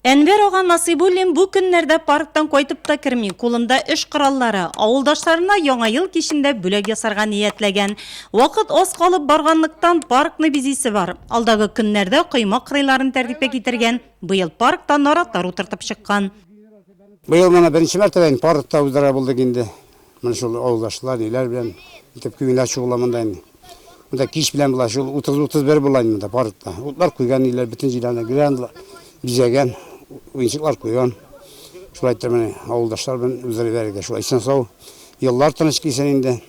Әнвәр ага Насыйбуллин бу көннәрдә парктан кайтып та керми, кулында эш кораллары. Авылдашларына Яңа ел кичендә бүләк ясарга ниятләгән. Вакыт аз калып барганлыктан, паркны бизисе бар. Алдагы көннәрдә койма кырыйларын тәртипкә китергән. Быел паркта наратлар утыртып чыккан. Быел моны беренче мәртәбә инде паркта уздыра булдык инде. Менә шул авылдашлар, ниләр белән итеп күмиләр шул уламында инде. Монда кич белән була шул 30-31 була инде монда паркта. Утлар куйган ниләр бөтен җирәне грандлар бизәгән, уенчыклар куйган. Шулай итеп менә авылдашлар белән үзләре бәргә шулай исән сау. Еллар тыныч килсен инде.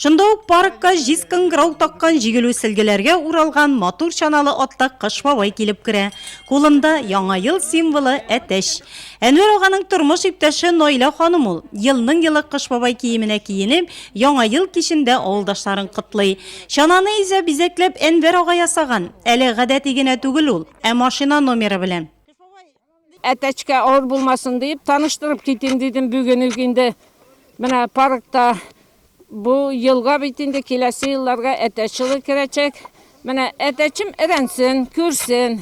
Шунда ук паркка җиз кыңгырау таккан җигелү сөлгеләргә уралган матур чаналы атта Кыш бабай килеп керә. Кулында, Яңа ел символы, әтәч. Әнвәр аганың тормыш иптәше Наилә ханым ул. Елның-елы Кыш бабай киеменә киенеп, Яңа ел кичендә авылдашларын котлый. Чананы изә бизәкләп Әнвәр ага ясаган. Әле гадәти генә түгел ул, ә машина номеры белән. Әтәчкә авыр булмасын диеп, таныштырып китим дидем, бүген үк инде менә паркта Бу елга бит инде киләсе елларга әтәчылы керәчәк. Менә әтәчем эрәнсен, күрсен.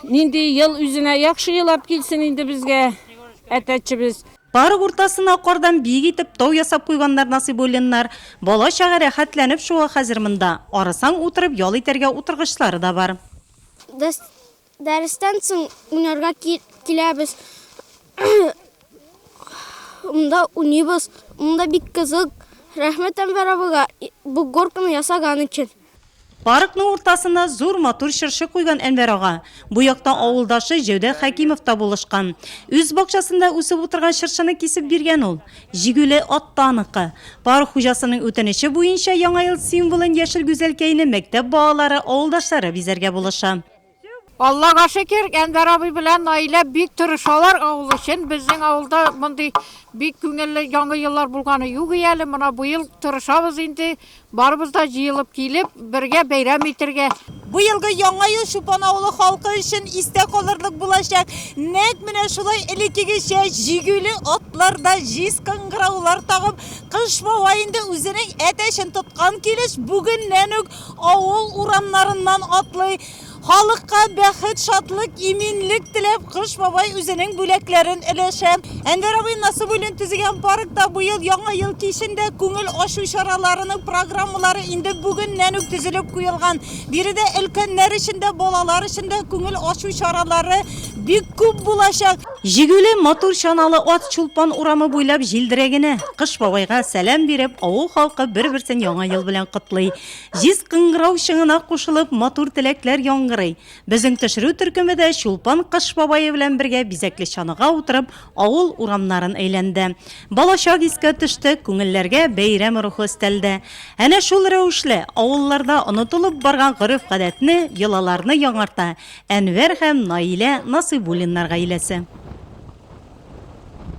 Нинди ел үзенә яхшы елап килсен инде безгә әтәчебез. Парк уртасына кардан биек итеп тау ясап куйганнар Насыйбуллиннар. Бала-чага рәхәтләнеп шуа хәзер монда. Арысаң, утырып ял итәргә утыргычлары да бар. Дәрестән соң уйнарга киләбез. Монда уйныйбыз. Монда бик кызык. Рәхмәт Әнвәр абыйга бу горканы ясаган өчен. Паркның уртасына зур матур чыршы куйган Әнвәр ага. Бу якта авылдашы Җәүдәт Хәкимов та булышкан. Үз бакчасында үсеп утырган чыршыны кисеп биргән ул. Җигүле ат та аныкы. Парк хуҗасының үтенече буенча Яңа ел символын яшел гүзәлкәйне мәктәп балалары, авылдашлары бизәргә булыша. Аллага шөкер, Әнвәр абый белән Наилә бик тырышалар авыл өчен. Безнең авылда мондый бик күңелле яңа еллар булганы юк и әле. Менә быел тырышабыз инде, барыбыз да җыелып килеп, бергә бәйрәм итәргә. Быелгы Яңа ел Чупан авылы халкы өчен истә калырлык булачак. Нәкъ менә шулай элеккегечә җигүле атларда җиз кыңгыраулар тагып, Кыш бабай инде үзенең әтәчен тоткан килеш, бүгеннән үк Авыл урамнарыннан атлый, халыкка бәхет, шатлык, иминлек теләп, Кыш бабай үзенең бүләкләрен өләшә. Әнвәр абый Насыбуллин төзегән паркта быел Яңа ел кичен дә күңел ачу чараларының программалары инде бүгеннән үк төзелеп куелган. Биредә өлкәннәр өчен дә, балалар өчен дә күңел ачу чаралары бик күп булачак. Җигүле, матур чаналы ат Чулпан урамы буйлап җилдерә генә. Кыш бабайга сәлам биреп, авыл халкы бер-берсен Яңа ел белән котлый. Җиз кыңгырау чыңына кушылып, матур теләкләр яңгырый. Безнең төшерү төркеме дә Чулпан Кыш бабае белән бергә бизәкле чанага утырып, авыл урамнарын әйләнде. Балачак искә төште, күңелләргә бәйрәм рухы өстәлде. Әнә шул рәвешле, авылларда онытылып барган гореф-гадәтне, йолаларны яңарта, Әнвәр һәм Наилә Насыйбуллиннар гаиләсе.